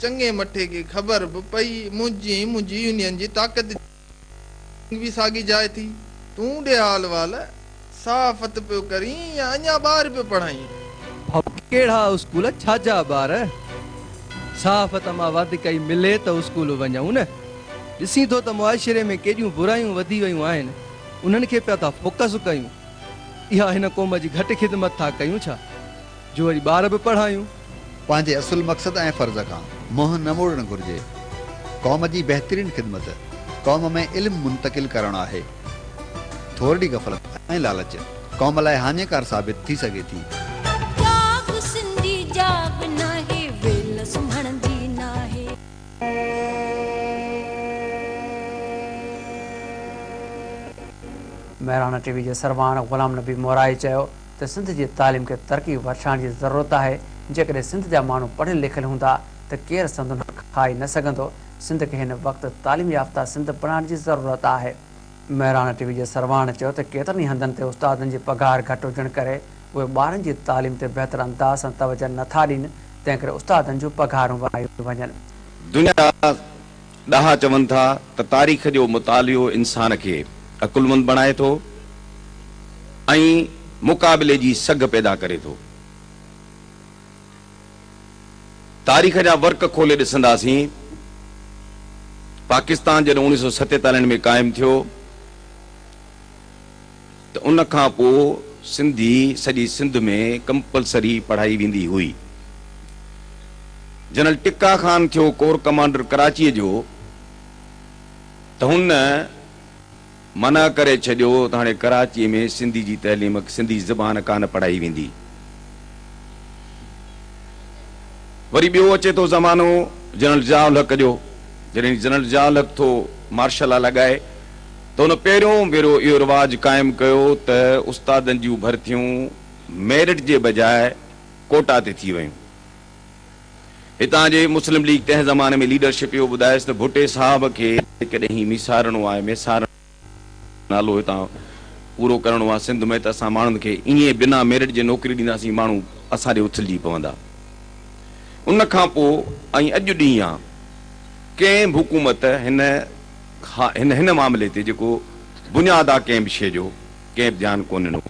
چڱي مٺي کي خبر به پئي منهنجي ۽ منهنجي يونين جي طاقت جي جنگ به ساڳي جاء ٿي. تون ڏي حال وال صحافت پيو ڪرين يا اڃا ٻار پيو پڙهائين؟ ڀائو ڪهڙا اسڪول ڇا جا ٻار. صحافت مان وڌ ڪئي ملي ته اسڪول وڃئون نه. ڏسين ٿو ته معاشري ۾ ڪيڏيون برايون وڌي ويون آهن انهن کي پيا ٿا فوڪس ڪيون. اها هن قوم جي گهٽ خدمت ٿا ڪيون ڇا؟ جو وري ٻار به پڙهايون. پنهنجي اصل مقصد ۽ فرض کان منهن نه موڙڻ گهرجي. قوم جي بهترين خدمت قوم ۾ علم منتقل ڪرڻ آهي. ٿورڙي غفلت ۽ لالچ قوم لاء هاڃيڪار ثابت ٿي سگهي ٿي. جاڳ سنڌي جاڳ ناهي ويل سمهڻ جي ناهي. مهراڻا ٽي وي جي سربراهن غلام نبي مورائي چيو ته سنڌ جي تعليم کي ترقي وٺرائڻ جي ضرورت آهي، جيڪڏهن سنڌ جا ماڻهو پڙهيل لکيل هوندا ته ڪير سندن حق کائي نه سگهندو، سنڌ کي هن وقت تعليم يافته سنڌ بڻائڻ جي ضرورت آهي. مهراڻ ٽي وي جي سرواڻ چيو ته ڪيترن ئي هنڌن تي استادن جي پگهار گهٽ هجڻ ڪري اهي ٻارن جي تعليم تي بهتر انداز سان توجهه نه ٿا ڏين، تنهن ڪري استادن جون پگهارون وڌايون وڃن. دنيا ڏاها چون ٿا ته تاريخ جو مطالعو انسان کي عقلمند بڻائي ٿو ۽ مقابلي جي سگهه پيدا ڪري ٿو. تاريخ جا ورق کولي ڏسنداسين، پاڪستان جڏهن اڻيهه سؤ ستيتاليهن ۾ قائم ٿيو، ته ان کان پوء سنڌي سڄي سنڌ ۾ ڪمپلسري پڙهائي ويندي هئي. جنرل ٽڪا خان ٿيو ڪور ڪمانڊر ڪراچيء جو ته هن منع ڪري ڇڏيو ته هاڻي ڪراچيء ۾ سنڌي جي تعليم سنڌي زبان ڪانه پڙهائي ويندي. وري ٻيو اچي ٿو زمانو جنرل ضياء الحق جو، جڏهن جنرل ضياء الحق ٿو مارشل لا لڳائي، ته هن پهريون ڀيرو اهو رواج قائم ڪيو ته استادن جون ڀرتيون ميرٽ جي بجاء ڪوٽا تي ٿي ويون. هتان جي مسلم ليگ تنهن زماني ۾ ليڊرشپ اهو ٻڌائيس ته ڀٽي صاحب کي جيڪڏهن هي ميسارڻو آهي، ميسارڻو نالو هتان پورو ڪرڻو آهي سنڌ ۾ ته اسان ماڻهن کي ائين بنا ميرٽ جي نوڪري ڏينداسين ماڻهو اسان ڏي اٿلجي پوندا. ان کان پوء ۽ اڄ ڏينهن ڪنهن به حڪومت هن ها هن هن معاملي تي جيڪو بنياد آ ڪنهن به شي جو ڪنهن به ڌيان ڪو ننو.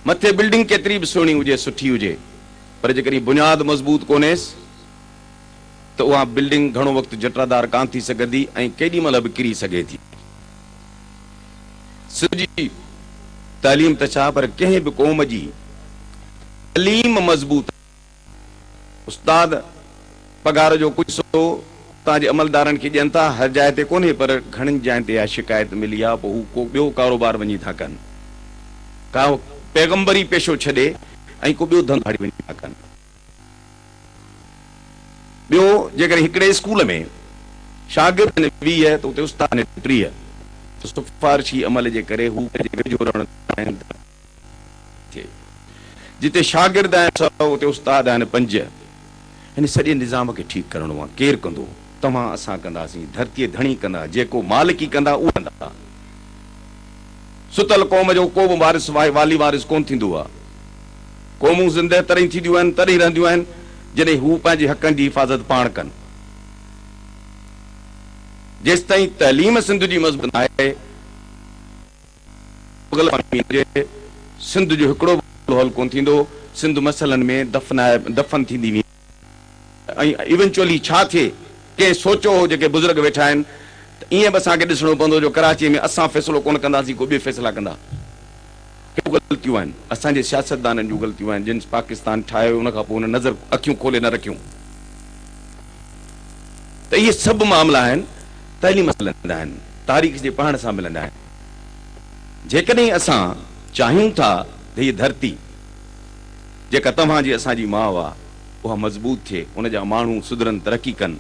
مٿي بلڊنگ ڪيتري به سهڻي هجي سٺي هجي پر جيڪڏهن بنياد مضبوط ڪونهيس ته اها بلڊنگ گهڻو وقت جٽرادار ڪان ٿي سگهندي ۽ ڪيڏي مهل به ڪري سگهي ٿي. سنڌ جي تعليم ته ڇا پر ڪنهن به قوم جي تعليم مضبوط. استاد پگهار جو ڪجهه حصو اتان جي عملدارن کي ڏين ٿا، هر جاء تي ڪونهي پر گهڻين جاين تي اها شڪايت ملي آهي پوء هو ڪو ٻيو ڪاروبار وڃي ٿا ڪن ڪا پيغمبري پيشو ڇڏي ۽ ڪو ٻيو ڌنڌو آڙي وڃي ٿا ڪن. ٻيو جيڪڏهن هڪڙي اسڪول ۾ شاگرد آهن ويهه ته اتي استاد آهن ٽيهه ته سفارشي عمل جي ڪري هو پنهنجي ويجهو رهڻ چاهين ٿا. ٿئي. جتي شاگرد آهن سؤ اتي استاد آهن پنج. هن سڄي نظام کي ٺيڪ ڪرڻو آ. ڪير ڪندو؟ توهان اسان ڪنداسين. ڌرتيء ڌڻي ڪندا. جيڪو مالڪي ڪندا اهي ڪندا. ستل قوم جو ڪوبه وارث سواء والي وارث ڪونه ٿيندو آ. قومون زندهه تڏهن ٿينديون آهن تڏهن رهنديون آهن جڏهن هو پنهنجي حقن جي حفاظت پاڻ ڪن. جيستائين تعليم سنڌ جي مضبوط ناهي. مغل امين جي سنڌ جو هڪڙو به حل ڪونه ٿيندو، سنڌ مسئلن ۾ دفنائي دفن ٿيندي ويندي ۽ ايونچولي ڇا ٿئي، ڪنهن سوچيو هو جيڪي بزرگ ويٺا آهن ته ائين به اسان کي ڏسڻو پوندو جو ڪراچي ۾ اسان فيصلو ڪونه ڪنداسين ڪو ٻي فيصلا ڪندا. هي غلطيون آهن اسان جي سياستدانن جون غلطيون آهن جن پاڪستان ٺاهيو هيو ان کان پوء هن نظر اکيون کولي نه رکيون ته اهي سڀ معاملا آهن تعليم سان ملندا آهن تاريخ جي پڙهڻ سان ملندا آهن. جيڪڏهن اسان چاهيون ٿا ته هيء ڌرتي، جيڪا توهان جي اسان جي ماء آ، اها مضبوط ٿئي، ان جا ماڻهو سڌرن، ترقي ڪن،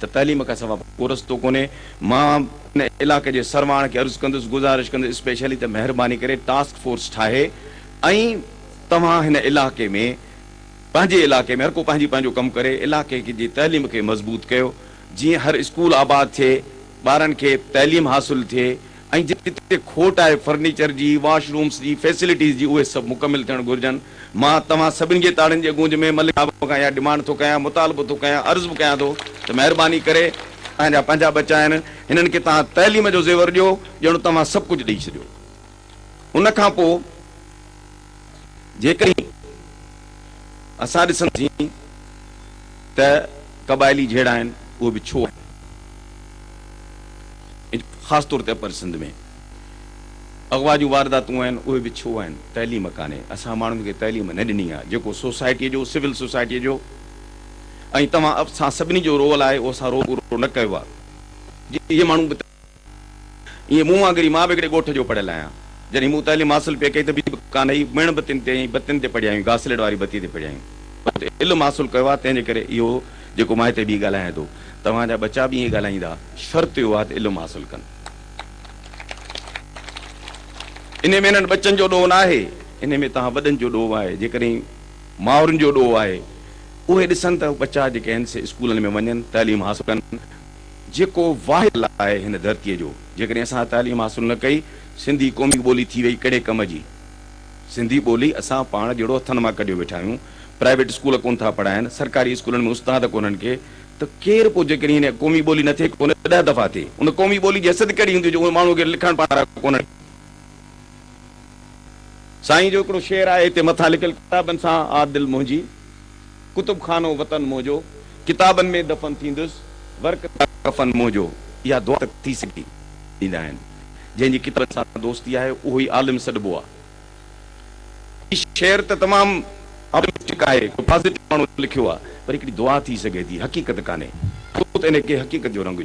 ته تعليم کان سوا ڪو رستو ڪونهي. مان ان علائقي جي سرواڻ کي عرض ڪندس، گذارش ڪندس اسپيشلي ته مهرباني ڪري ٽاسڪ فورس ٺاهي ۽ توهان هن علائقي ۾ پنهنجي علائقي ۾ هر ڪو پنهنجي پنهنجو ڪم ڪري، علائقي جي تعليم کي مضبوط ڪيو. جيئن هر اسڪول آباد ٿئي، ٻارن کي تعليم حاصل ٿئي ۽ جتي کوٽ آهي فرنيچر جي، واش رومس جي، فيسلٽيز جي اهي سڀ مڪمل ٿيڻ گهرجن. مان توهان سڀني جي تاڙين جي گونج ۾ ملڪ صاحب کان اها ڊمانڊ ٿو ڪيان، مطالبو ٿو ڪيان، عرض به ڪيان ٿو ته مهرباني ڪري تهان جا پنهنجا ٻچا آهن، هنن کي توهان تعليم جو زيور ڏيو، ڄڻ توهان سڀ ڪجهه ڏئي ڇڏيو. ان کان پوء جيڪڏهن اسان ڏسنداسين ته قبائلي جهيڙا آهن اهي به ڇو آهن؟ خاص طور تي اپر سنڌ ۾ اغوا جون وارداتون آهن اهي به ڇو آهن؟ تعليم ڪانهي، اسان ماڻهن کي تعليم نه ڏني آهي، جيڪو سوسائٽيء جو سول سوسائٽيء جو ۽ توهان اسان سڀني جو رول آهي اهو اسان رول پورو نه ڪيو آهي جي اهي ماڻهو به ائين مون وانگر ئي مان به هڪڙي ڳوٺ جو پڙهيل آهيان. جڏهن مون تعليم حاصل پئي ڪئي ته بجلي به ڪانه هئي، ميڻ بتين تي ۽ بتين تي پڙهيا آهيون، گاسليٽ واري بتي تي پڙهيا آهيون. بس علم حاصل ڪيو آهي تنهن جي ڪري اهو جيڪو مان هتي بيهي ڳالهايان ٿو، توهان جا ٻچا به ائين ڳالهائيندا، شرط اهو آهي ته علم حاصل ڪن. انهي ۾ انهن ٻچن جو ڏوهه ناهي، انهي ۾ توهان وڏن جو ڏوهه آهي. جيڪڏهن مائرن جو ڏوهه آهي اهي ڏسن ته ٻچا جيڪي آهن سي اسڪولن ۾ وڃن، تعليم حاصل ڪن، جيڪو واحد لا آهي هن ڌرتيء جو. جيڪڏهن اسان تعليم حاصل نه ڪئي، سنڌي قومي ٻولي ٿي وئي ڪهڙي ڪم جي؟ سنڌي ٻولي اسان پاڻ جهڙو هٿن مان ڪڍيو ويٺا آهيون. پرائيويٽ اسڪول ڪونه ٿا پڙهائين، سرڪاري اسڪولن ۾ استاد ڪونهن ڪي ته ڪير پوء جيڪڏهن هن قومي ٻولي نه ٿئي ڪونه ڏهه دفعا ٿئي ان قومي ٻولي جي حيثيت ڪهڙي هوندي جو اهي ماڻهو کي لکڻ پڙهڻ وارا ڪونهن. سائين جو هڪڙو شعر آهي هتي مٿان لکيل ڪتابن سان آ دل منهنجي ڪتب خانو وطن منهنجو، ڪتابن ۾ دفن ٿيندس، ورق تي ڪفن منهنجو، اها دعا ته ٿي سگهي. ڏيندا آهن. جنهن جي ڪتابن سان دوستي آهي، اهو ئي عالم سڏبو آهي. هي شعر ته تمام آپٽمسٽڪ آهي، ڪو پازيٽو ماڻهو لکيو آهي، پر هڪڙي دعا ٿي سگهي ٿي، حقيقت ڪانهي. ڇو ته ان کي حقيقت جو رنگ ڏيو.